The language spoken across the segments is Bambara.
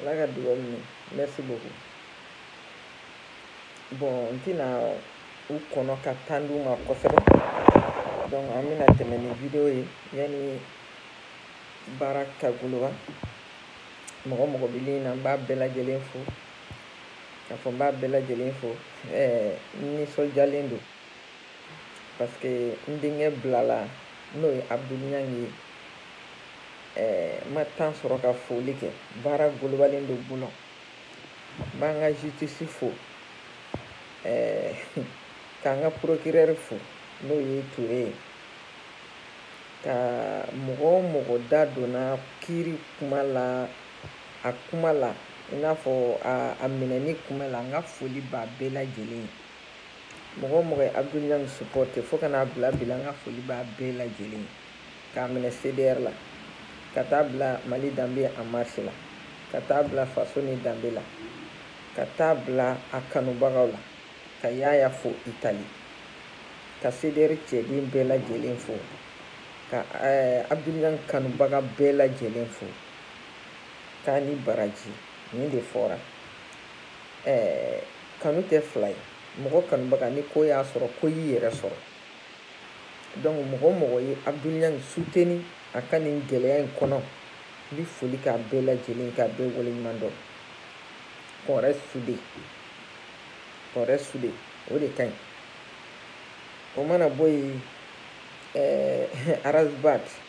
ala ka dugawu minɛ merci beaucoup bon n tɛna u kɔnɔ ka temps d'u ma kosɛbɛ donc an bɛna tɛmɛ ni video ye yanni baara ka goloba mɔgɔ mɔgɔ bɛ ligne na n b'a bɛɛ lajɛlen fo k'a fɔ n b'a bɛɛ lajɛlen fo ɛɛ nisɔndiyalen don parce que n denkɛ bilala n'o ye abdoul niang ye eh, ma temps sɔrɔ ka foli kɛ baara golobalen don bolo n b'an ka justice fo eh, k'an ka procureur fo n'o ye ture ye ka mɔgɔ o mɔgɔ da donna kiri kuma la a kuma la i n'a fɔ a minɛni kuma la n ka foli b'a bɛɛ lajɛlen ye mɔgɔ o mɔgɔ ye abdoul niang supporte fo ka n'a bila bi la n ka foli b'a bɛɛ lajɛlen k'a minɛ cdr la ka taa bila mali danbe en marche la ka taa bila faso ni danbe la ka taa bila a kanubagaw la ka yaya fo itali ka cdr cɛden bɛɛ lajɛlen fo ka eh, abdoul niang kanubaga bɛɛ lajɛlen fo k'a ni baraji nin de fɔra eh, kanu tɛ fila ye mɔgɔ kanubaga ni ko y'a sɔrɔ ko y'i yɛrɛ sɔrɔ donc mɔgɔ o mɔgɔ ye abdoul niang suteni a ka nin gɛlɛya in kɔnɔ n bɛ foli k'a bɛɛ lajɛlen k'a bɛɛ waleɲuman dɔn qu'on reste soudés qu'on reste soudés o de ka ɲi o mana bɔ yen ɛɛ eh, ras bath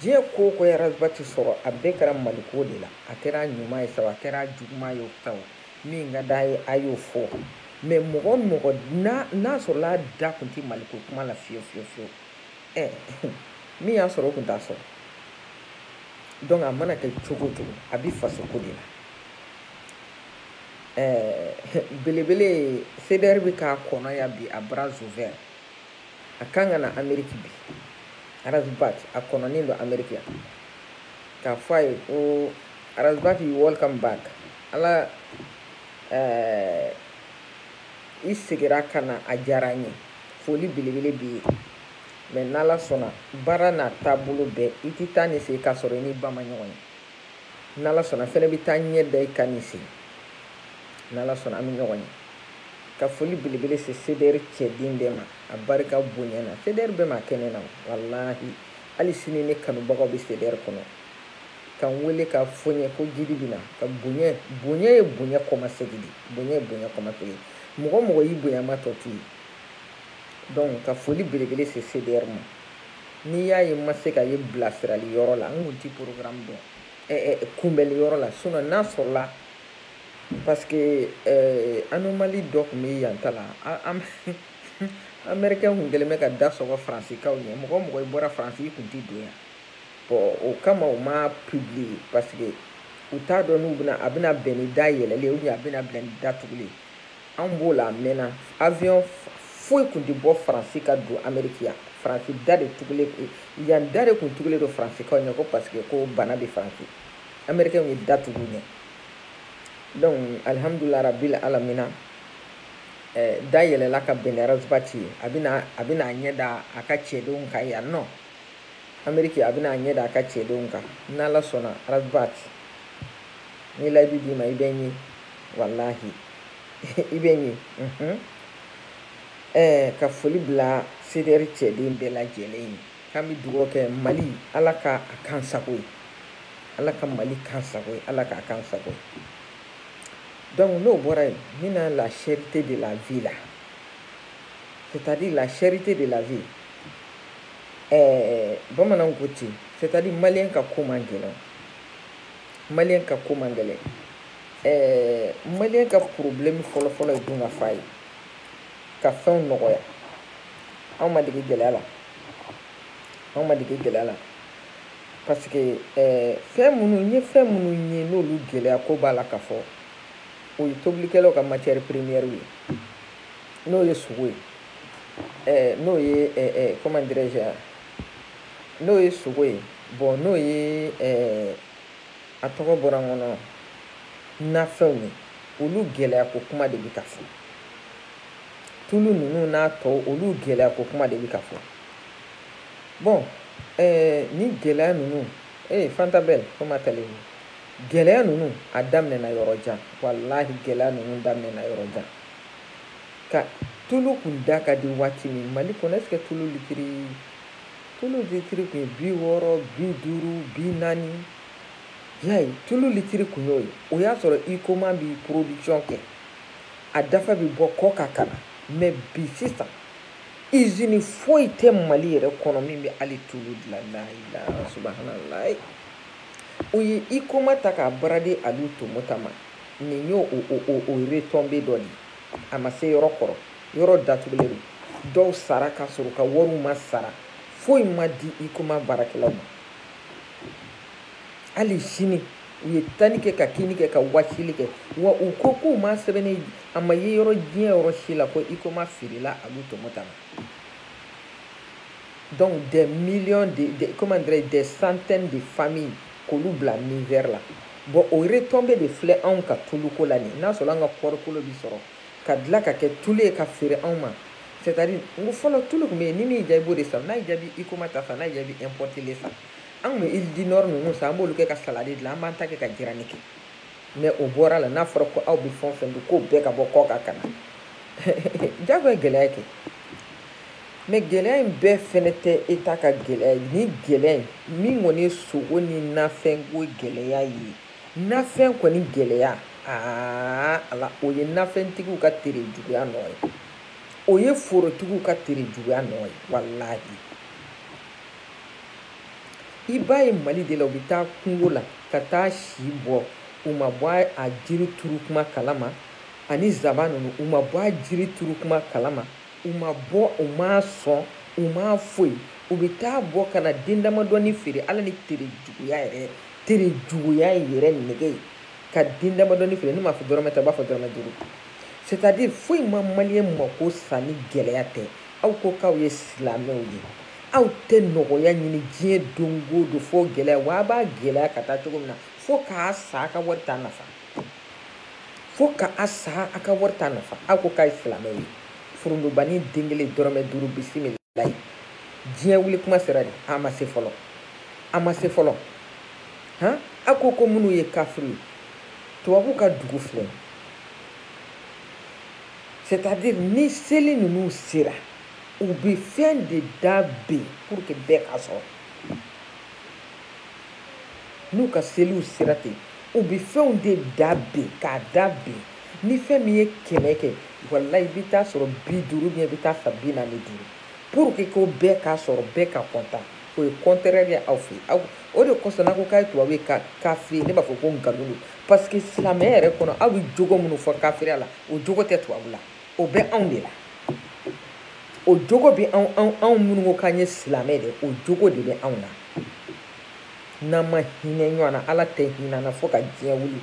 diɲɛ ko o ko ye ras bath sɔrɔ a bɛɛ kɛra maliko de la a kɛra ɲuman ye sa a kɛra juguman ye sa min ka d'a ye a y'o fɔ mais mɔgɔ mɔgɔ n'a sɔrɔla a da kun tɛ maliko kuma la fiyewu fiyewu fiyewu ɛ min y'a sɔrɔ o kun t'a sɔrɔ donc a mana kɛ cogo cogo a bɛ fasoko de la ɛɛ belebele cdr bɛ k'a kɔnɔ yan bi à bras ouverts a kan ka na ameriki bi ras bath a kɔnɔnen don ameriki yan k'a fɔ a ye ko ras bath you welcome back ala ɛɛ i segira ka na a diyara n ye foli belebele b'i ye mais n'ala sɔnna baara n'a taabolo bɛɛ i tɛ taa nin sen k'a sɔrɔ i ni ba ma ɲɔgɔn ye n'ala sɔnna fɛnɛ bɛ taa ɲɛ da i kan nin sen n'ala sɔnna an bɛ ɲɔgɔn ye ka foli belebele se cdr cɛden bɛɛ ma a barika bonya na cdr bɛɛ ma kɛnɛ na walahi hali sini ne kanubagaw bɛ cdr kɔnɔ ka n wele k'a fɔ n ye ko jiri bɛ na ka bonya bonya ye bonya kɔmasegi de bonya ye bonya kɔmasegi mɔgɔ mɔgɔ y'i bonya maa tɔ to yen donc ka foli belebele se cdr ma n'i y'a ye n ma se ka ye bilasirali yɔrɔ la n kun ti programme dɔn eh, eh, kunbɛli yɔrɔ la sinɔn n'a sɔrɔla parce que eh, anomalie dɔ tun bɛ yan ta la américain kun kɛlen bɛ ka da sɔgɔ faransikaw ɲɛ mɔgɔ o mɔgɔ i bɔra faransi i kun ti don yan bɔn o kama u ma publier parce que u t'a dɔn n'u bɛna a bɛna bɛn ni da yɛlɛlen ou bien a bɛna bɛn ni da tugulen anw b'o la a mɛnna avion foyi kun tɛ bɔ faransi ka don ameriki yan faransi da de tugulen yan da de kun tugulen don faransikaw ɲɛ ko paseke ko bana bɛ faransi amerikɛnw ye da tugu ɲɛ donc alihamudulila rabil alamina eh, da yɛlɛla ka bɛn ni ras bath ye a bɛna a bɛna a ɲɛ da a ka cɛdenw kan yan nɔ ameriki a bɛna a ɲɛ da a ka cɛdenw kan n'ala sɔnna ras bath ni layidu d'i ma i bɛ n ye walahi i bɛ ɲɛ mhm. eh, ka foli bila CDR cɛden bɛɛ lajɛlen ye k'an bɛ dugawu kɛ mali ala ka a k'an sago ye ala ka mali k'an sago ye ala k'a k'an sago ye donc n'o bɔra yen n bɛ na la cherté de la vie la c'est à dire la cherté de la vie eh, bamananw ko ten c'est à dire maliyɛn ka ko man gɛlɛn maliyɛn ka ko man gɛlɛn ɛɛ maliyɛn ka porobilɛmu fɔlɔfɔlɔ ye dun ka fa ye ka fɛnw nɔgɔya anw ma dege gɛlɛya la anw ma dege gɛlɛya la parce que ɛɛ fɛn minnu n ye fɛn minnu ye n'olu gɛlɛya ko b'a la ka fɔ o ye tobilikɛlaw ka matière première ye n'o ye sogo ye ɛɛ n'o ye ɛɛ comment dirais-je n'o ye sogo ye bɔn n'o ye ɛɛ a tɔgɔ bɔra n kɔnɔ nafɛnw ye olu gɛlɛya ko kuma de bɛ ka fɔ tulu ninnu n'a tɔw olu gɛlɛya ko kuma de bɛ ka fɔ bɔn ɛɛ ni gɛlɛya ninnu ee fanta belle comment allez-vous gɛlɛya ninnu a daminɛna yɔrɔ jan walahi gɛlɛya ninnu daminɛna yɔrɔ jan ka tulu kun da ka di waati min mali kɔnɔ ɛseke tulu litiri tulu litiri kun ye bi wɔɔrɔ bi duuru bi naani y'a ye tulu litiri kun y'o ye o y'a sɔrɔ huicoma bi production kɛ a dafa bɛ bɔ kɔkan ka na mɛ bi sisan izini foyi tɛ mali yɛrɛ kɔnɔ min bɛ hali tulu dilan layila subahanallahi u ye huicoma ta k'a brader alu tomota ma nin y'o o o o retombée dɔ de ye a ma se yɔrɔ kɔrɔ yɔrɔ datugulen don dɔw sara ka sɔrɔ u ka wariw ma sara foyi ma di huicoma baarakɛlaw ma hali sini u ye tani kɛ ka kini kɛ ka wasili kɛ wa u ko k'u ma sɛbɛnni a ma ye yɔrɔ diɲɛ yɔrɔ si la ko huicoma feerela aliyu tomota ma donc des millions de, de comment dirais des centaines de familles k'olu bila misère la bɔn o retombée de filɛ anw ka tuluko la nin n'a sɔrɔ an ka kɔɔrikolo bi sɔrɔ ka dilan ka kɛ tulu ye ka feere anw ma c'est à dire n ko fɔlɔ tulu tun bɛ yen ni min y'i diya i b'o de san n'a y'i diya i bi huicoma ta san n'a y'i diya i bi importé le san an tun bɛ huile dinor ninnu san an b'olu kɛ ka salade dilan an b'an ta kɛ ka jirani kɛ mɛ o bɔra a la n'a fɔra ko aw bɛ fɛn o fɛn dun k'o bɛɛ ka bɔ kɔkan ka na jagoya gɛlɛya kɛ mɛ gɛlɛya in bɛɛ fɛnɛ tɛ état ka gɛlɛya ye ni gɛlɛya in min kɔni ye sogo ni nafɛnko gɛlɛya ye nafɛn kɔni gɛlɛya aa ala o ye nafɛntigiw ka tere juguya nɔ ye o ye forotigiw ka tere juguya nɔ ye walahi i b'a ye mali de la u bɛ taa kungo la ka taa si bɔ u ma bɔ a jiri turu kuma kalama ani zaban ninnu u ma bɔ a jiri turu kuma kalama u m'a bɔ u m'a sɔn u ma foyi u bɛ t'a bɔ ka na den damadɔni feere ala ni tere juguya yɛrɛ tere juguya yɛrɛ nɛgɛ ye ka den damadɔni feere ne m'a fɔ dɔrɔmɛ tan b'a fɔ dɔrɔmɛ duuru c'est à dire foyi ma maliyɛn mako sa ni gɛlɛya tɛ aw ko k'aw ye silamɛw ye aw tɛ nɔgɔya ɲini diɲɛ don o don fo gɛlɛya wa a b'a gɛlɛya ka taa cogo min na fo k'a sa a ka wari t'a nafa fo ka a sa a ka wari t'a nafa aw ko k'a ye silamɛw ye forontobani den kelen dɔrɔmɛ duuru bisimilayi diɲɛ wuli kuma sera de a ma se fɔlɔ a ma se fɔlɔ han a ko ko minnu ye kafiri ye tubabuw ka dugu filɛ c'est-à-dire ni seli ninnu sera u bɛ fɛn de da ben pour que bɛɛ k'a sɔrɔ n'u ka seliw sera ten u bɛ fɛnw de da ben k'a da ben ni fɛn min ye kɛmɛ kɛ walayi i bɛ t'a sɔrɔ bi duuru i bɛ t'a san bi naani ni duuru pour que ko bɛɛ k'a sɔrɔ bɛɛ ka kɔntan o ye kɔntɛrɛri ye aw fɛ aw o de kosɔn n'a ko k'a ye tubabu ye kafiri ne b'a fɔ ko nkalon don parce que silamɛya yɛrɛ kɔnɔ aw bɛ jogo minnu fɔ kafiriya la o jogo tɛ tubabu la. o bɛ anw de la o jogo bɛ anw anw minnu ko k'an ye silamɛ de o jogo de bɛ anw na n'an ma hinɛ ɲɔgɔn na ala tɛ hinɛ an na fo ka diɲɛ wuli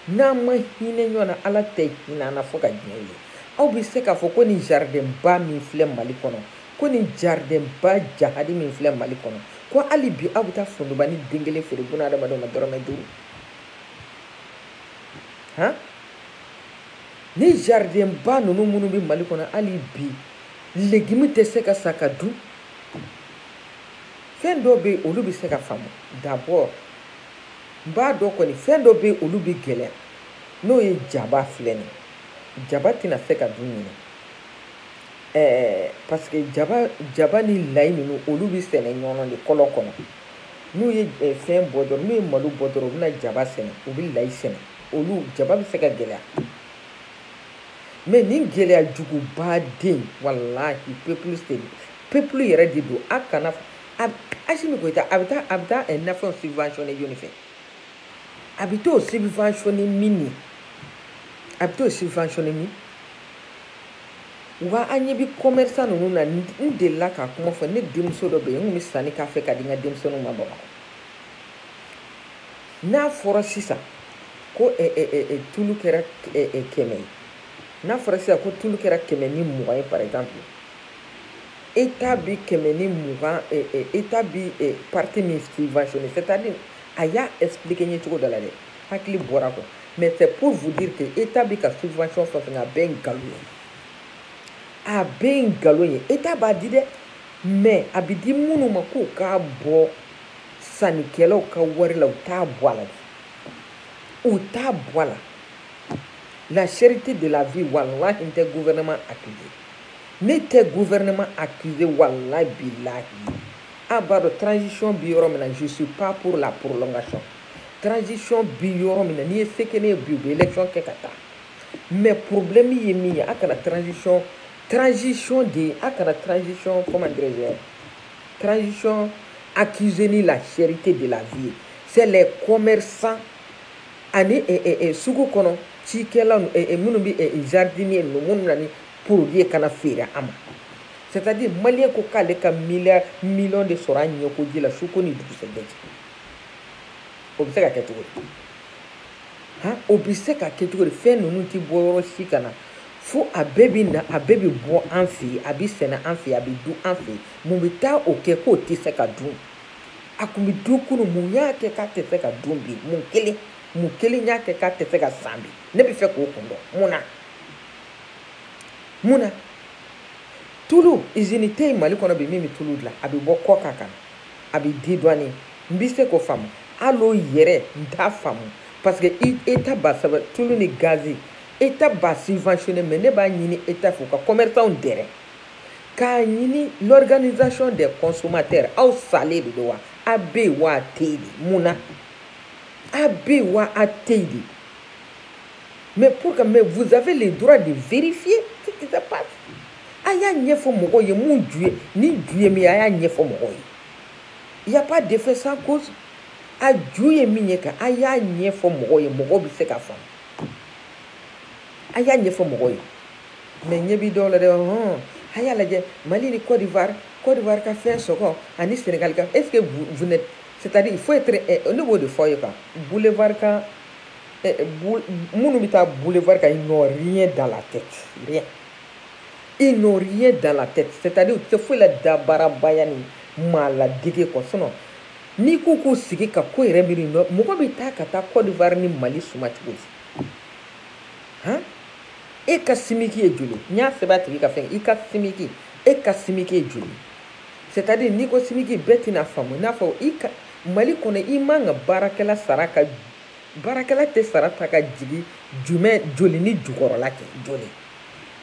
n'an ma hinɛ ɲɔgɔn na ala tɛ hinɛ an na fo ka diɲɛ wuli aw bɛ se k'a fɔ ko nin jaridɛnba min filɛ mali kɔnɔ ko nin jaridɛnba jahadi min filɛ mali kɔnɔ ko hali bi aw bɛ taa forontobani den kelen feere bunadamadenw ma dɔrɔmɛ duuru han ni jaridenba ninnu minnu bɛ mali kɔnɔ hali bi legimi tɛ se ka san ka dun fɛn dɔw bɛ yen olu bɛ se ka faamu d'abord n b'a dɔn kɔni fɛn dɔw bɛ yen olu bɛ gɛlɛya n'o ye jaba filɛ nin jaba tɛna se ka dun ɲinan ɛɛ parce que jaba jaba ni layi ninnu olu bɛ sɛnɛ ɲɔnɔ de kɔlɔn kɔnɔ n'u ye fɛn bɔ dɔrɔn n'u ye malo bɔ dɔrɔn u bɛna jaba sɛnɛ u bɛ layi sɛnɛ olu jaba bɛ se ka gɛlɛya mais nin gɛlɛya juguba den walahi peuple c'est peuple yɛrɛ de don a kana asimi goyita a bɛ taa a bɛ taa eh, nafɛnw subventionné jɔni fɛ a bɛ t'o subventionné min ye a bɛ t'o subventionné min wa an ɲɛ bɛ commerçant ninnu na n delila k'a kuma fɔ ne denmuso dɔ bɛ yen n kun bɛ sanni k'a fɛ ka di n ka denmisɛnninw ma bamakɔ n'a fɔra sisan ko eh, eh, eh, eh, tulu kɛra eh, eh, kɛmɛ ye n'a fɔra sisan ko tulu kɛra kɛmɛ ni mugan ye par exemple état bi kɛmɛ ni mugan eh, eh, état bi eh, partie min subventionné c'est à dire a y'a expliquer n ye cogo dɔ la dɛ hakili bɔra a kɔ mais c'est pour vous dire que état bi ka subvention fɛn fɛn a bɛɛ nkalon ye a bɛɛ nkalon ye état b'a di dɛ mais a bi di minnu ma k'u k'a bɔ sannikɛlaw ka wari la u t'a bɔ a la u t'a bɔ a la la cherté de la vie walahi n tɛ gouvernement accusé ne tɛ gouvernement accusé walahi bilahi a b'a dɔn transition bi yɔrɔ min na je suis pas pour la prolongation transition bi yɔrɔ min na n'i ye se kɛ ne ye bi u bɛ élection kɛ ka taa mais problème ye min ye a kana transition transition de a kana transition comment dirais-je Transition accusé ni la cherté de la vie c'est les commerçants ani eh, eh, eh, sugu kɔnɔ cikɛla minnu bɛ jardinier ninnu minnu na ni produit ye ka n'a feere a ma c'est à dire maliyɛn ko k'ale ka miliyar miliyɔn de sɔrɔ a ɲɛkoji la su ko ni dugusɛjɛ cɛ o bɛ se ka kɛ cogo di han o bɛ se ka kɛ cogo di fɛn ninnu tɛ bɔ yɔrɔ si ka na fo a bɛɛ bi na a bɛɛ bi bɔ an fɛ yen a bi sɛnɛ an fɛ yen a bi dun an fɛ yen mun bɛ taa o kɛ k'o tɛ se ka dun a kun bɛ dun kunun mun y'a kɛ k'a tɛ se ka dun bi mun kelen mun kelen y'a kɛ k'a tɛ se ka san bi ne bɛ fɛ k'o kun dɔn mun na mun na tulu izini tɛ yen mali kɔnɔ bi min bɛ tulu dilan a bɛ bɔ kɔkan ka na a bɛ dédouané n bɛ se k'o faamu hali o yɛrɛ n t'a faamu parce que état b'a sɛbɛn tulu ni gazi eta b'a subventionné mais ne b'a ɲini eta fɛ u ka commerçants dɛrɛ k'a ɲini l'organisation des consommateurs aw salen de don wa a bɛ yen wa a tɛ yen de mun na a bɛ yen wa a tɛ yen de mais pour que mais vous avez le droit de vérifier ce qui se passe a y'a ɲɛfɔ mɔgɔw ye mun ju ye ni ju ye min ye a y'a ɲɛfɔ mɔgɔw ye il y a pas d'effet sans cause a ju ye min ye quoi a y'a ɲɛfɔ mɔgɔw ye mɔgɔw bɛ se ka faamu. a y'a ɲɛfɔ mɔgɔw ye mɛ ɲɛ bɛ dɔw la dɛ hɔn a y'a lajɛ mali ni Côte d'Ivoire Côte d'Ivoire ka fɛn sɔngɔ ani senegal ka est ce que vous n'êtes c'est à dire il faut être eh, ne b'o de f'aw ye quoi boulevard kan eh, eh, minnu bɛ taa boulevard kan ils n'ont rien dans la tête rien ils n'ont rien dans la tête c'est à dire u tɛ foyi la dabaarabaya ni maa ladege kɔ sinon n'i ko k'u sigi ka ko yɛrɛ miiri nɔ mɔgɔ bɛ taa ka taa Côte d'Ivoire ni Mali suma cogo di han e ka simiki ye joli n y'a sɛbɛn a tigi ka fɛn i ka simiki e ka simiki ye joli c'est à dire n'i ko simiki bɛɛ tɛna faamu i n'a fɔ mali kɔnɔ i man kan ka baarakɛla sara ka baarakɛla tɛ sara ta ka jigin jumɛn joli ni jukɔrɔla kɛ joli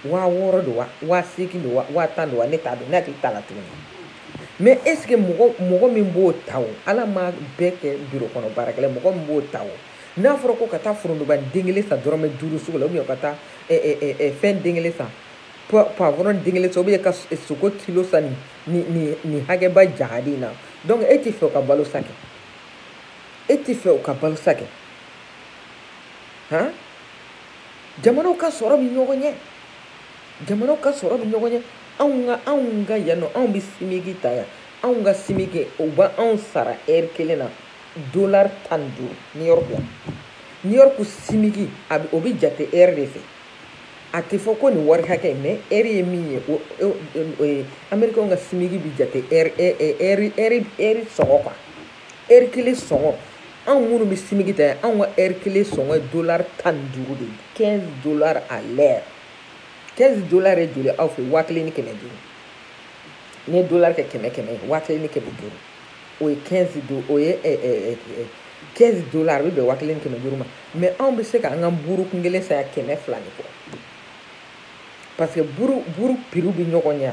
waa wɔɔrɔ don wa waa seegin don wa waa tan don wa ne t'a dɔn ne hakili t'a la tuguni mais est ce que mɔgɔ mɔgɔ min b'o ta o ala ma bɛɛ kɛ biro kɔnɔ baarakɛla mɔgɔ min b'o ta o n'a fɔra ko ka taa forontoba den kelen san dɔrɔmɛ duuru sugu la ou bien ka taa fɛn den kelen san poivron den kelen san ou bien ka sogo kilo san nin nin nin hakɛba jahadi in na donc e t'a fɛ o ka balo sa kɛ e t'a fɛ o ka balo sa kɛ han jamanaw ka sɔrɔ bɛ ɲɔgɔn ɲɛ jamanaw ka sɔrɔ bɛ ɲɔgɔn ɲɛ anw ka anw ka yan nɔ anw bɛ simiki ta yan anw ka simiki u bɛ anw sara ɛri kelen na dolari tan ni duuru new york la new york simiki a bɛ o bɛ jate ɛri de fɛ a tɛ fɔ ko nin wari hakɛ mɛ ɛri ye min ye o o amerikɛnw ka simiki bɛ jate ɛri ɛri ɛri ɛri sɔngɔ kan ɛri kelen sɔngɔ anw minnu bɛ simiki ta anw ka ɛri kelen sɔngɔ ye dolari tan ni duuru de ye quinze dollars à l'heure quinze dollars ye joli aw fɛ waa kelen ni kɛmɛ duuru n'i ye dolari kɛ kɛmɛ kɛmɛ ye waa kelen ni kɛmɛ duuru o ye quinze do o ye ɛɛ ɛɛ ɛɛ quinze dolari a bɛ bɛn waa kelen ni kɛmɛ duuru ma mɛ anw bɛ se ka an ka buuru kun kelen san yan kɛmɛ fila ni kɔ parce que buuru buuru piriw bɛ ɲɔgɔn ɲɛ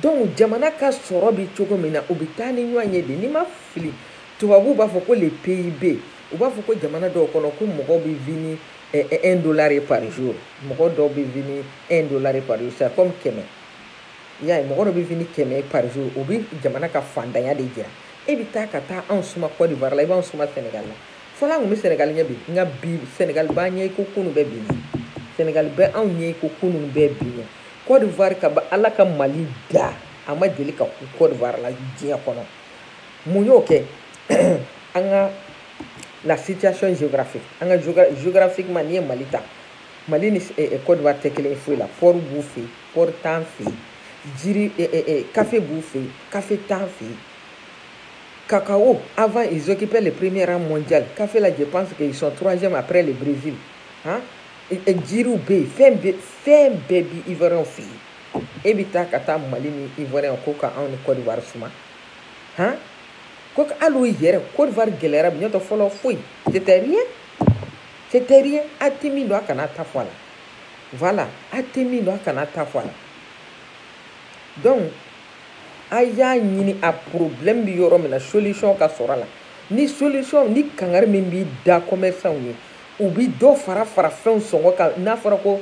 donc jamana ka sɔrɔ bɛ cogo min na o bɛ taa ni ɲɔgɔn ye de n'i ma fili tubabuw b'a fɔ ko le PIB u b'a fɔ ko jamana dɔw kɔnɔ ko mɔgɔw bɛ vivre ni eh, eh, un dollar ye par jour mɔgɔ dɔw bɛ vivre ni un dollar ye par jour c'est comme kɛmɛ i y'a ye mɔgɔ dɔ bɛ vivre ni kɛmɛ ye par jour o bɛ jamana ka fantanya de jira e bɛ taa ka taa anw suma Côte d'Ivoire la i b'anw suma Sénégal la fɔlɔ an tun bɛ Sénégal ɲɛ bi nka bi Sénégal b'an ɲɛ i ko kunun bɛ bi ɲɛ Sénégal bɛ anw ɲɛ i ko kunun bɛ bi ɲɛ Côte d'Ivoire kabi Ala ka Mali da a ma deli ka kun Côte d'Ivoire la diɲɛ kɔnɔ mun y'o kɛ an ka la situation géographique an ka géographiquement n'i ye Mali ta Mali ni eh, eh, Côte d'Ivoire tɛ kelen ye foyi la port b'u fɛ yen port t'an fɛ yen jiri eh, eh, eh, café b'u fɛ yen café t'an fɛ yen cacao avant ils occupaient le premier rang mondial café la je pense qu'ils sont troisième après le Brésil hein jiriw bɛ yen fɛn bɛɛ fɛn bɛɛ bi ivoiriyɛnw fɛ yen e bɛ taa ka taa mali ni ivoiriyɛnw ko ka anw ni kɔdiwari suma han ko hali o yɛrɛ kɔdiwari gɛlɛyara bi n'o tɛ fɔlɔ foyi c'était rien c'était rien a tɛ min dɔn a kana ta fɔ a la voilà a tɛ min dɔn a kana ta fɔ a la donc a y'a ɲini a problème bi yɔrɔ min na solution ka sɔrɔ a la ni solution ni kangari min bi da commerçant ye u bi dɔ fara fara fɛnw sɔngɔ kan n'a fɔra ko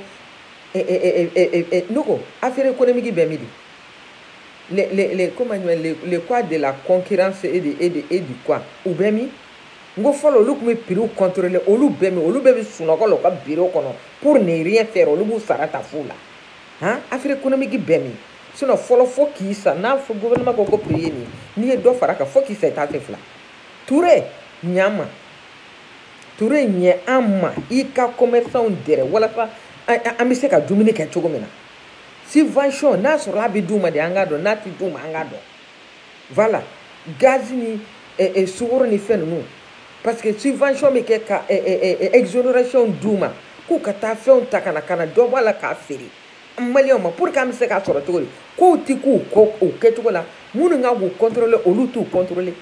eh, eh, eh, ne ko affaire économique bɛ min le le le comment le le quoi de la concurrence et de et de et du quoi u bɛ min n ko fɔlɔ olu tun bɛ prix contrôler olu bɛ min olu bɛɛ bɛ sunɔgɔ la u ka bureau kɔnɔ pour ne rien faire olu b'u sara ta fu la han affaire économique bɛ min sinon fɔlɔ fo k'i sa n'a fɔ gouvernement ko ko prix ye nin ye n'i ye dɔ fara a kan fo k'i sa i t'a fɛ fila Touré ɲ'an ma Touré ɲɛ an ma i ka commerçantw dɛrɛ walasa an bɛ se ka dumuni kɛ cogo min na subvention n'a sɔrɔ a bɛ d'u ma de an k'a dɔn n'a tɛ d'u ma an k'a dɔn voilà gaz ni sukaro ni fɛn ninnu parce que subvention bɛ kɛ ka exonération d'u ma k'u ka taa fɛnw ta ka na ka na dɔ bɔ a la k'a feere an maliyɛnw ma pour que an bɛ se k'a sɔrɔ cogo kow tɛ ka kɛ u kɛcogo la minnu ka k'u contrôler olu t'u contrôler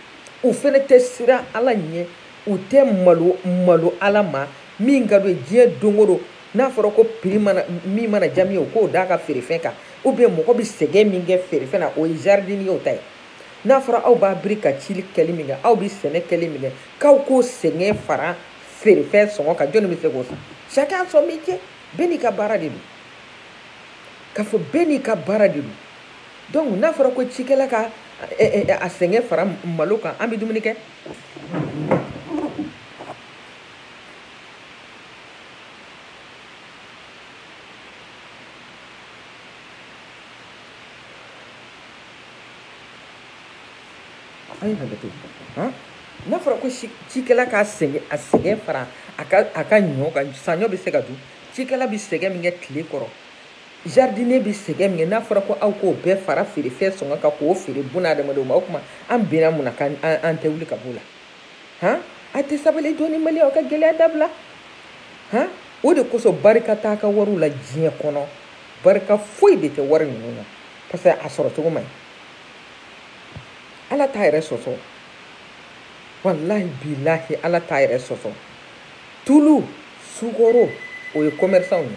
u fana tɛ siran ala ɲɛ u tɛ malo malo ala ma min ka d'u ye diɲɛ don o don n'a fɔra ko prix mana min mana diya min ye o k'o d'a ka feerefɛn kan ou bien mɔgɔ bɛ sɛgɛn min kɛ feerefɛn na o ye jardinier o ta ye n'a fɔra aw b'aw biri ka cili kɛli min kɛ aw bɛ sɛnɛ kɛli min kɛ k'aw k'o sɛgɛn fara feerefɛn sɔngɔ kan jɔnni bɛ se k'o san chacun son métier bɛɛ n'i ka baara de don k'a fɔ bɛɛ n'i ka baara de don donc n'a fɔra ko cikɛla ka a sɛgɛn fara malo kan an bɛ dumuni kɛ a ye hakɛto han n'a fɔra ko si- cikɛla k'a sɛgɛn a sɛgɛn fara a ka a ka ɲɔ kan saɲɔ bɛ se ka dun cikɛla bɛ sɛgɛn min kɛ tile kɔrɔ jardinier bi sɛgɛn min kɛ n'a fɔra ko aw k'o bɛɛ fara feerefɛn sɔngɔ kan k'o feere buna hadamadenw ma o tuma an bɛnna mun na k'an tɛ wuli ka b'o la han a tɛ sabali dɔɔni maliens aw ka gɛlɛya dabila han o de kosɔn barika t'a ka wariw la diɲɛ kɔnɔ barika foyi de tɛ wari ninnu na parce que a sɔrɔ cogo man ɲi ala t'a yɛrɛ sɔsɔ walahi bilahi ala t'a yɛrɛ sɔsɔ tulu sukaro o ye commerçant ye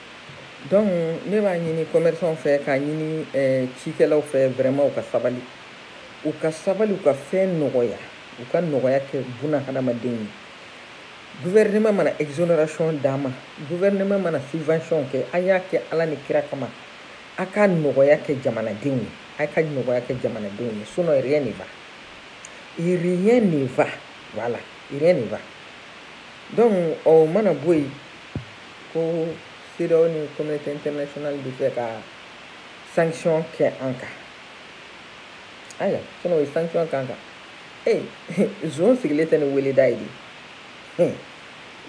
donc ne b'a ɲini commerçant fɛ k'a ɲini eh, cikɛlaw fɛ vraiment u ka sabali u ka sabali u ka fɛn nɔgɔya u ka nɔgɔya kɛ buna hadamaden ye gouvernement mana exonération d'a ma gouvernement mana subvention kɛ a y'a kɛ ala ni kira kama a ka nɔgɔya kɛ jamanadenw ye a ka nɔgɔya kɛ jamanadenw ye sinon rien ne va rien ne va voilà rien ne va donc o mana bɔ yen ko CEDEAO ni communauté internationale bɛ fɛ ka sanction kɛ an kan ayiwa sinon o ye sanction k'an kan ee zon sigilen tɛ ni weleda ye de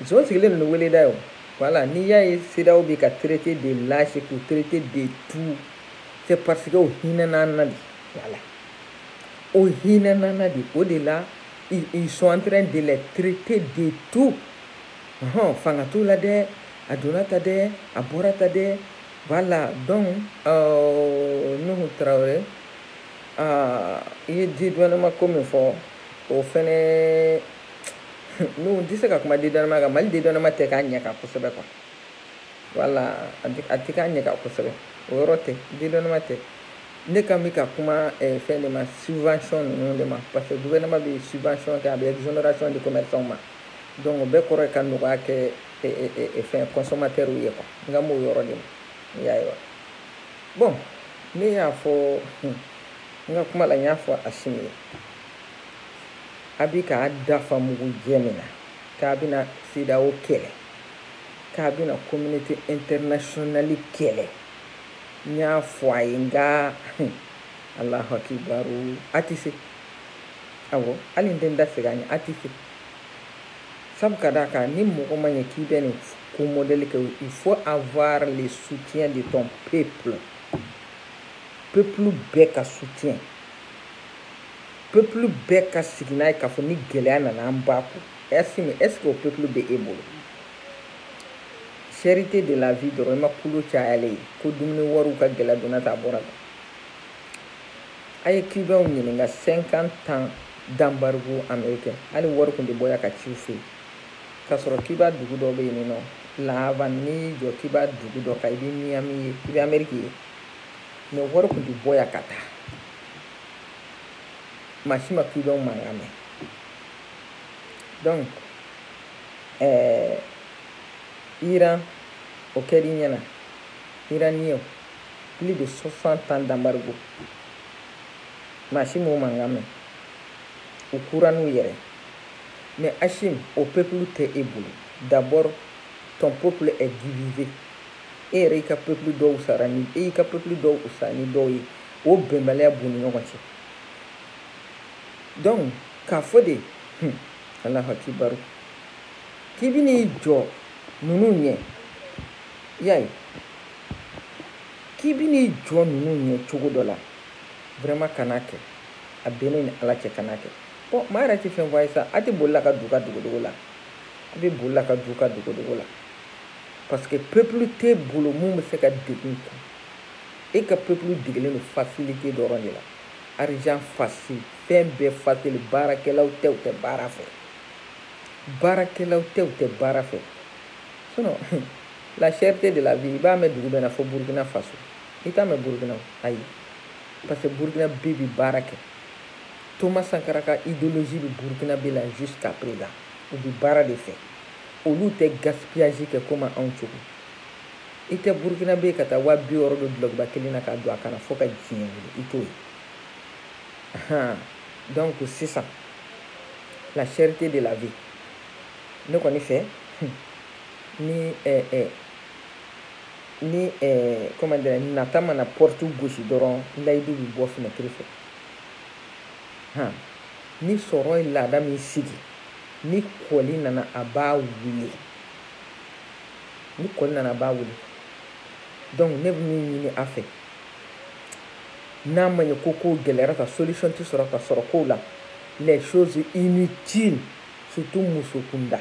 zon sigilen don ni weleda ye o voilà n'i y'a ye CEDEAO bɛ ka traiter de lâche k'u traiter de tout c'est parce que o hinɛna an na de voilà o hinɛna an na de o de la ils sont en train de les traiter de tout ɔhɔn fanga t'u la dɛ a donna ta dɛ a bɔra ta dɛ voilà donc euh, nuhu Traoré ah, i ye dédouanement ko min fɔ o fɛnɛ nuhu n tɛ se ka kuma dédouanement kan mali dédouanement tɛ k'a ɲɛ kan kosɛbɛ quoi voilà a tɛ k'a ɲɛ kan kosɛbɛ o yɔrɔ tɛ dédouanement tɛ ne kan bɛ ka kuma eh, fɛn de ma subvention ninnu de ma parce que gouvernement bɛ subvention kɛ a bɛ exonération di commerçants ma donc o bɛɛ kɔrɔ ye ka nɔgɔya kɛ fɛn consommateurs ye quoi n kan b'o yɔrɔ de ma y'a ye wa bon ne y'a fɔ n ka kuma la n y'a fɔ Asimi ye a bi k'a da fa mugu jɛ min na k'a bɛna CEDEAO kɛlɛ k'a bɛna communauté internationale kɛlɛ n y'a fɔ a ye nka Allahu akibaru a tɛ se awɔ hali n tɛ n da segin a ɲɛ a tɛ se sabu ka d'a kan ni mɔgɔ ma ɲɛ k'i bɛ nin ko mɔdɛli kɛ il faut avoir le soutien de ton peuple peuple bɛɛ ka soutien peuple bɛɛ ka sigi n'a ye k'a fɔ ni gɛlɛya nana an b'a kun Assimi est ce que o peuple bɛ e bolo cherté de la vie dɔrɔn i ma kulo cayalen ye ko dumuni wariw ka gɛlɛya donna ta a bɔra la a ye cubainw ɲininka 50 ans d'embargo américain hali wari kun tɛ bɔ yan ka ci u fɛ k'a sɔrɔ cuba dugu dɔ bɛ yen non la havane n'i y'i jɔ cuba dugu dɔ kan i bɛ miami ye i bɛ amérique ye mais wari kun tɛ bɔ yan ka taa maa si ma cubainw mankan mɛn donc ɛɛ iran o kɛr'i ɲɛna iranienw plus de 60 ans d'embargo maa si m'o mankan mɛn u kura n'u yɛrɛ mais Assimi o peuple tɛ e bolo d'abord ton peuple est divisé e yɛrɛ y'i ka peuple dɔw sara ni e y'i ka peuple dɔw sara ni dɔw ye o bɛnbaliya b'u ni ɲɔgɔn cɛ donc k'a fɔ de hmm, alahu akibaru k'i bɛ n'i jɔ ninnu ɲɛ y'a ye k'i bi n'i jɔ ninnu ɲɛ cogo dɔ la vraiment kana kɛ a bɛ ne ni ala cɛ kana kɛ bon maa yɛrɛ tɛ fɛn fɔ a ye sa a tɛ boli la ka du ka dogodogo la a bɛ boli la ka du ka dogodogo la parce que peuple tɛ bolo min bɛ se ka degun kun e ka peuple degelen don facilité dɔrɔn de la argent facile fɛn bɛɛ facile baarakɛlaw tɛ u tɛ baara fɛ baarakɛlaw tɛ u tɛ baara fɛ sinon la cherté de la vie i b'a mɛn dugu bɛɛ na fo burukina faso i t'a mɛn burukina ayi parce que burukinabɛ bi baara kɛ thomas sankara ka idéologie bi burukinabɛ la jusqu'à présent u bi baara de fɛ olu tɛ gaspillage kɛ komi anw cogo i tɛ burukinabɛ ka taa waa bi wɔɔrɔ don dulɔkiba kelen na k'a don a kan na fo ka diɲɛ wuli i t'o ye donc sisan la cherté de la vie ne kɔni fɛ ni eh, eh, ni eh, comment dire nata mana porte gosi dɔrɔn layidu bɛ bɔ fenêtre fɛ han ni sɔrɔ ye laada min sigi ni kɔli nana a b'a wuli ni kɔli nana a b'a wuli donc ne bɛ min ɲini a fɛ n'a ma ɲɛ ko kow gɛlɛyara ka solution tɛ sɔrɔ ka sɔrɔ kow la les choses inutiles surtout muso kunda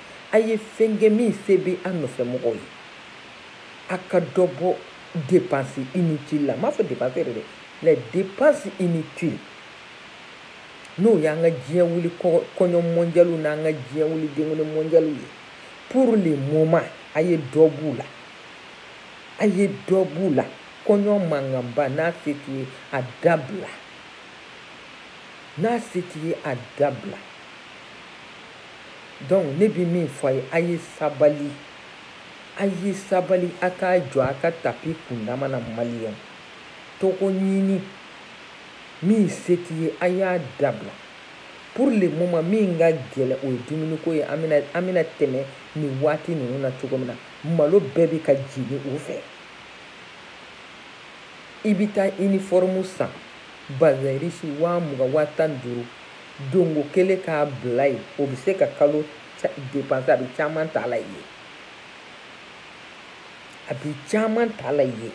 a ye fɛn kɛ min se bɛ an nɔfɛmɔgɔw ye a ka dɔ bɔ dépense inutile la n m'a fɔ dépense yɛrɛ dɛ les dépenses inutiles n'o y'an ka diɲɛ wuli kɔɲɔ mɔndiyaliw n'an ka diɲɛ wuli denkundi mɔndiyaliw ye pour le moment a ye dɔ b'u la a ye dɔ b'u la kɔɲɔ mankanba n'a se t'i ye a dabila n'a se t'i ye a dabila donc ne bɛ min fɔ a ye a ye sabali a ye sabali a k'a jɔ a ka tapi kundama na maliyɛn tɔgɔɲini min se t'i ye a y'a dabila pour le moment min ka gɛlɛn o ye dumuniko ye an bɛna an bɛna tɛmɛ nin waati ninnu na cogo min na malo bɛɛ bɛ ka jigin u fɛ i bɛ taa uniforme san bazin riche waa mugan waa tan ni duuru donko kelen k'a bila yen o bɛ se ka kalo dépense a bɛ caman ta la yen a bɛ caman ta la yen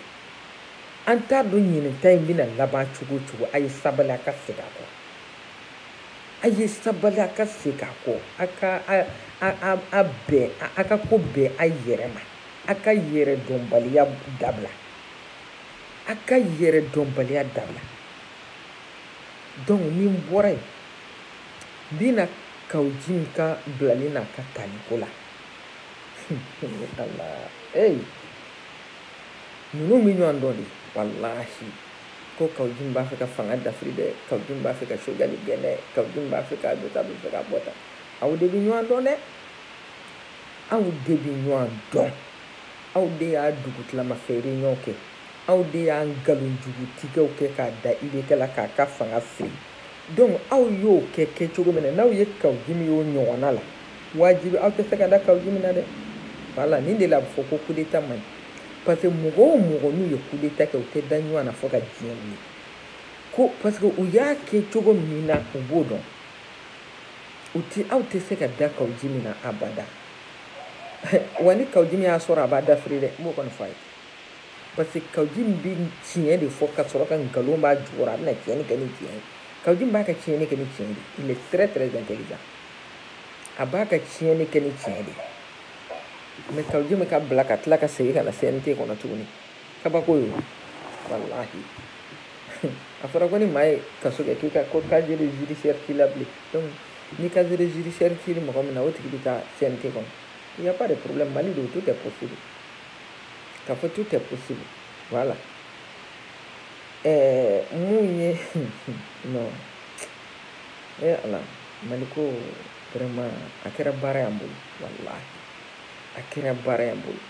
an t'a dɔn ɲinan ta in bɛna laban cogo o cogo a ye sabali a ka segin a kɔ a ye sabali a ka segin a kɔ a ka a a a bɛn a ka ko bɛn a yɛrɛ ma a ka yɛrɛdɔnbaliya dabila a ka yɛrɛdɔnbaliya dabila donc ni n bɔra yen n bɛ na kaou djim ka bilali n'a ka taliko la ala ee ninnu bɛ ɲɔgɔn dɔn de walahi ko kaou djim b'a fɛ ka fanga dafiri dɛ kaou djim b'a fɛ ka choguel gɛn dɛ kaou djim b'a fɛ k'a don ta bɛ fɛ k'a bɔ ta aw de bɛ ɲɔgɔn dɔn dɛ aw de bɛ ɲɔgɔn dɔn aw de y'a dugutilama fɛ réunion kɛ aw de y'a nkalonjugutigɛw kɛ k'a da ibk la k'a ka fanga firi donc aw y'o kɛ kɛcogo min na n'aw ye kaou djim y'o ɲɔgɔnna la wajibi aw tɛ se ka da kaou djim na dɛ voilà nin de la a bɛ fɔ ko coup d'état man ɲi parce que mɔgɔ o mɔgɔ n'u ye coup d'état kɛ u tɛ da ɲɔgɔn na fo ka diɲɛ wuli ko parce que u y'a kɛ cogo min na u b'o dɔn u ti aw tɛ se ka da kaou djim na abada wa ni kaou djim y'a sɔrɔ a b'a dafiri dɛ n b'o kɔni fɔ a ye parce que kaou djim bɛ tiɲɛ de fɔ ka sɔrɔ ka nkalon b'a jukɔrɔ a bɛna tiɲɛni kɛ ni tiɲɛ ye kaou djim b'a ka tiɲɛni kɛ ni tiɲɛ de il est très très intelligent a b'a ka tiɲɛni kɛ ni tiɲɛ de mais kaou djim ka bila ka tila ka segin ka na cnt kɔnɔ tuguni kabako ye walahi a fɔra ko ni maa ye kaso kɛ k'i ka ko casier de judiciaire t'i la bilen donc ni casier de judiciaire t'i mɔgɔ min na o tigi bɛ taa cnt kɔnɔ il y a pas de problème mali don tout est possible k'a fɔ tout est possible voilà ɛɛ eh, mun ye non e eh, ala mali ko vraiment a kɛra baara y'an bolo walahi a kɛra baara y'an bolo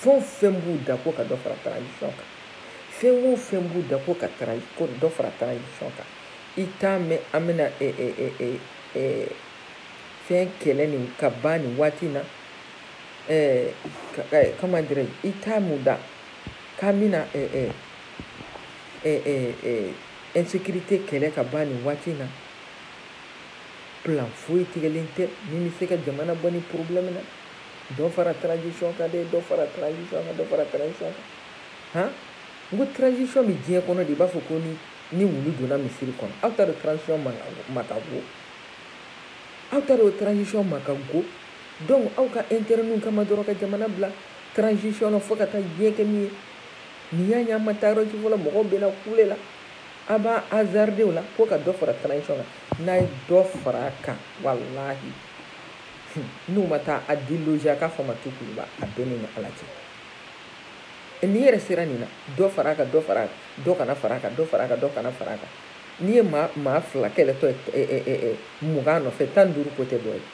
fɛn o fɛn b'u da ko ka dɔ fara transition kan fɛn o fɛn b'u da ko ka ko dɔ fara transition kan i t'a mɛn an bɛna fɛn kɛlɛ nin ka ban nin waati in na eh, eh, comment dirais i t'a mɛn u da k'an bɛna eh, eh, eh, eh, eh, insécurité kɛlɛ ka ban nin waati in na plan foyi tigɛlen tɛ min bɛ se ka jamana bɔ nin problème na dɔ fara transition kan dɛ dɔ fara transition kan dɔ fara transition kan han n ko transition bɛ diɲɛ kɔnɔ de i b'a fɔ ko ni ni wulu donna misiri kɔnɔ aw t'a dɔn transition ma ka go aw t'a dɔn transition ma ka go donc aw ka intérêt ninnu kama dɔrɔn ka jamana bila transition na fo ka taa diɲɛ kɛ min ye nin y'a ye an ma taa yɔrɔ si fɔlɔ mɔgɔw bɛna kule la a b'a hasarder o la ko ka dɔ fara transition kan n'a ye dɔ fara a kan walahi n'u ma taa a déloger a k'a fɔ ma tu kuluba a bɛɛ ni ala cɛ n'i yɛrɛ sera nin na dɔ fara a kan dɔ fara a kan dɔ kana fara a kan dɔ fara a kan dɔ kana fara a kan n'i ye maa maa fila kɛlɛtɔ ye mugan nɔfɛ tan ni duuru ko tɛ dɔ ye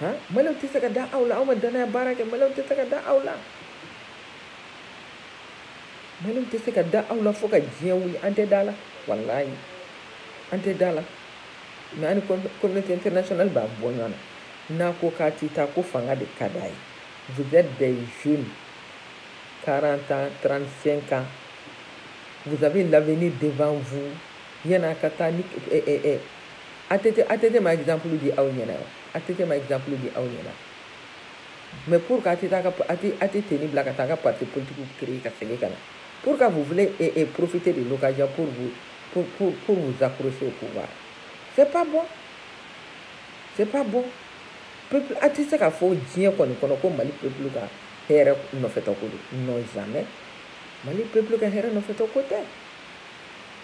han maliyɛnw tɛ se ka da aw la aw ma danaya baara kɛ maliyɛnw tɛ se ka da aw la maliyɛnw tɛ se ka da aw la fo ka diɲɛ wuli an tɛ da la walayi an tɛ da la mais ani communauté internationale b'a bɔ ɲɔgɔn na n'a ko k'a ti taa ko fanga de ka d'a ye vous êtes des jeunes 40 ans 35 ans vous avez l'avenir devant vous yan'a ka taa ni eh, eh, eh, ATT, ATT ma exemple di aw ɲɛna wa ATT ma exemple di aw ɲɛna mais pourquoi a tɛ ka a tɛ nin bila ka taa ka parti politique créer ka segin ka na pourquoi vous voulez eh, eh profiter de l'occasion pour vous pour, pour, pour vous accrocher au pouvoir c'est pas bon c'est pas bon peuple a tɛ se k'a fɔ diɲɛ kɔni kɔnɔ ko mali peuple ka hɛrɛ nɔfɛtɔ ko don non jamais mali peuple ka hɛrɛ nɔfɛtɔ ko tɛ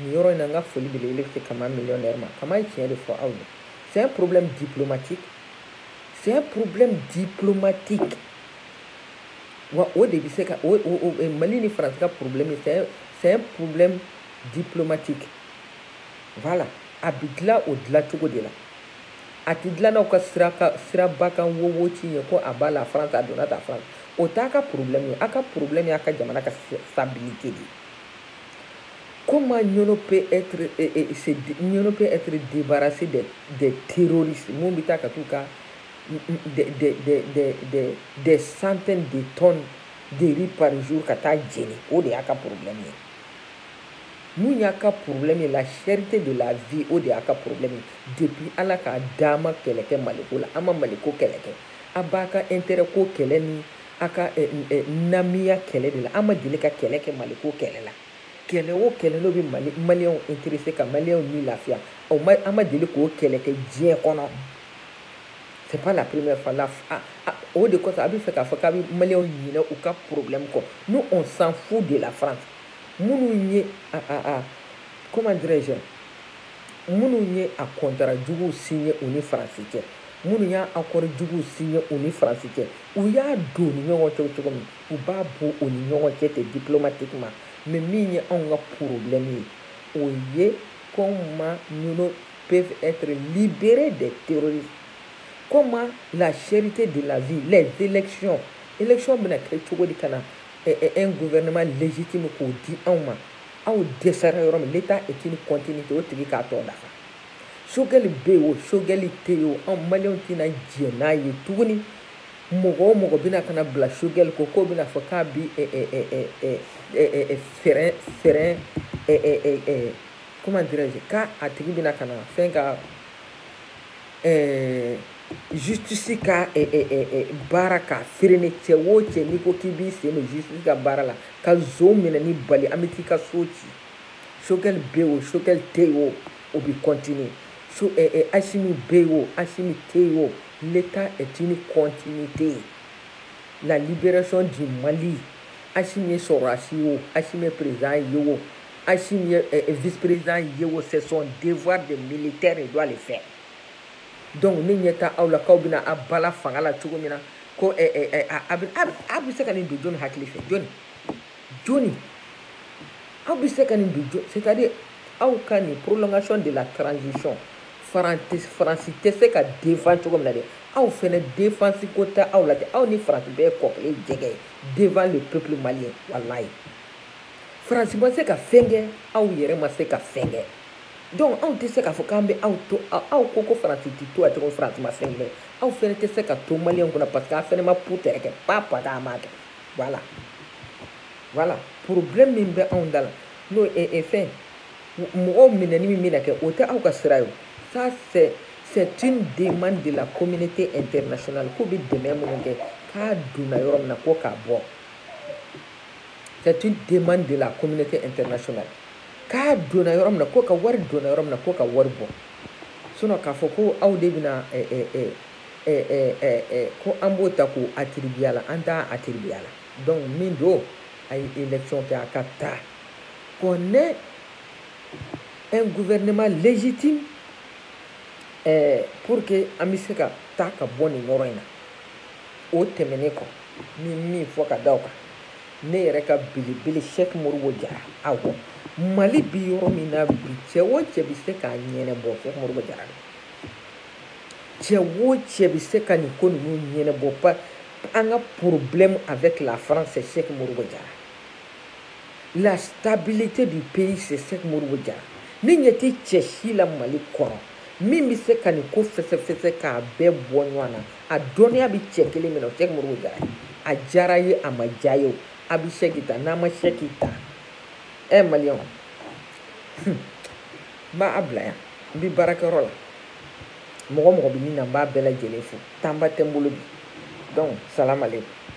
nin yɔrɔ in na n ka foli belebele bɛ se kama millionnaire ma kama ye tiɲɛ de fɔ aw ye c'est un problème diplomatique c'est un problème diplomatique wa o de bɛ se ka o o o mali ni faransi ka problème ye c'est un c'est un problème diplomatique voilà a bɛ dilan o dilancogo de la a tɛ dilan n'aw ka sira ka siraba kan wowo ci ye ko à bas la France a donna ta faransi o t'a ka problème ye a ka problème y'a ka jamana ka stabilité de ye Comment Niono peut être, et, eh, et, eh, eh, Niono peut être débarrassé des, des terroristes min bɛ taa ka tout cas des, des, des, des, des centaines de tonnes de riz par jour ka taa jeni o de y'a ka problème ye min y'a ka problème ye la cherté de la vie o de y'a ka problème ye depuis ala k'a da a ma kɛlɛ kɛ maliko la a ma maliko kɛlɛ kɛ a b'a ka intérêt ko kɛlɛ ni a ka eh, eh, namiya kɛlɛ de la a ma deli ka kɛlɛ kɛ maliko kɛlɛ la kɛlɛ o kɛlɛ n'o bɛ mali maliyɛnw interese ka maliyɛnw ni lafiya o ma a ma deli k'o kɛlɛ kɛ diɲɛ kɔnɔ c'est pas la première fois la ah, ah, o de kosɔn a bɛ fɛ k'a fɔ k'a bɛ maliyɛnw ɲinɛ u ka problème kɔ nous on s'en fout de la France minnu ye ah, ah, ah, comment dirais-je minnu ye a contrat juguw signé u ni faransi cɛ minnu y'a accord juguw signé u ni faransi cɛ u y'a don u ni ɲɔgɔn cɛ cogo min u b'a bɔ u ni ɲɔgɔn cɛ ten diplomatiquement mais min ye anw ka problème ye o ye comment Niono peuvent être libérés des terroristes comment la cherté de la vie les élections élections bɛna kɛ cogo di ka na un gouvernement légitime k'o di anw ma aw dɛsɛra yɔrɔ min l'état est une continuité o tigi k'a tɔ dafa sogɛli bɛ yen o sogɛli tɛ yen o anw maliyɛnw tɛna jɛn n'a ye tuguni mɔgɔ o mɔgɔ bɛna ka na bila sogɛli kɔ k'o bɛna fɔ k'a bi frein frein comment dirais-je k'a a tigi bɛna ka na fɛn ka eh, justice ka eh, eh, eh, eh, baara ka freiner cɛ o cɛ n'i ko k'i b'i sen don justice ka baara la ka zon minɛni bali an bɛ t'i ka so ci sogɛli bɛ yen o sogɛli tɛ yen o o bɛ continuer so eh, eh, asimi bɛ yen o asimi tɛ yen o l'état est une continuité la libération du mali asimi ye sɔrɔdasi ye o asimi ye président ye o asimi ye eh, eh, vice-président ye o c'est son devoir de militaire il doit le faire donc ne ɲɛ t'a aw la k'aw bɛna a bala fanga la cogo min na ko eh, eh, eh, a bɛ a bɛ se ka nin don jɔni hakili fɛ jɔni jɔni aw bɛ se ka nin don jɔni c'est à dire aw ka nin prolongation de la transition faransi faransi tɛ se ka défend cogo min na dɛ aw fɛnɛ defansi ko tɛ aw la dɛ aw ni faransi bɛɛ ye kɔ kelen jɛgɛ ye devant le peuple malien walayi faransi ma se ka fɛn kɛ aw yɛrɛ ma se ka fɛn kɛ donc anw tɛ se k'a fɔ k'an bɛ aw to aw ko ko faransi tɛ to katugu faransi ma fɛn kɛ aw fɛnɛ tɛ se ka to maliyɛnw kunna parce que aw fɛnɛ ma pu tɛrɛ kɛ pa pa k'a ma kɛ voilà voilà problème min bɛ anw da la n'o ye e fɛn mɔgɔw minɛni min bɛna kɛ o tɛ aw ka sira ye ça c'est c'est une demande de la communauté internationale k'u bɛ dɛmɛ minnu kɛ k'a donna yɔrɔ min na ko k'a bɔ c'est une demande de la communauté internationale k'a donna yɔrɔ min na ko ka wari donna yɔrɔ min na ko ka wari bɔ sinon k'a fɔ ko aw de bɛna ko an b'o ta k'o attribuer a la an t'a attribuer a la donc min don a ye élection kɛ a ka taa qu'on ait un gouvernement légitime pour que an bɛ se ka taa ka bɔ nin yɔrɔ in na o tɛmɛnen kɔ n bɛ min fɔ ka da o kan ne yɛrɛ ka belebele sɛk modibo jara awɔ mali bi yɔrɔ min na bi cɛ o cɛ bɛ se k'a ɲɛnɛbɔ sɛk modibo jara de cɛ o cɛ bɛ se ka nin ko ninnu ɲɛnɛbɔ an ka problème avec la france c'est sɛk modibo jara la stabilité du pays c'est sɛk modibo jara ne ɲɛ tɛ cɛ si la mali kɔnɔ min bɛ se ka nin ko fɛsɛfɛsɛ k'a bɛɛ bɔ ɲɔgɔn na a dɔnniya bɛ cɛ kelen min na o sɛk modibo jara ye a diyara ye a ma diya ye o a bɛ sɛki ta n'a ma sɛki ta ɛ maliyɛnw n b'a bila yan n bɛ baarakɛyɔrɔ la mɔgɔ mɔgɔ bɛ nin na n b'a bɛɛ lajɛlen fo temps ba tɛ n bolo bi donc salamalekum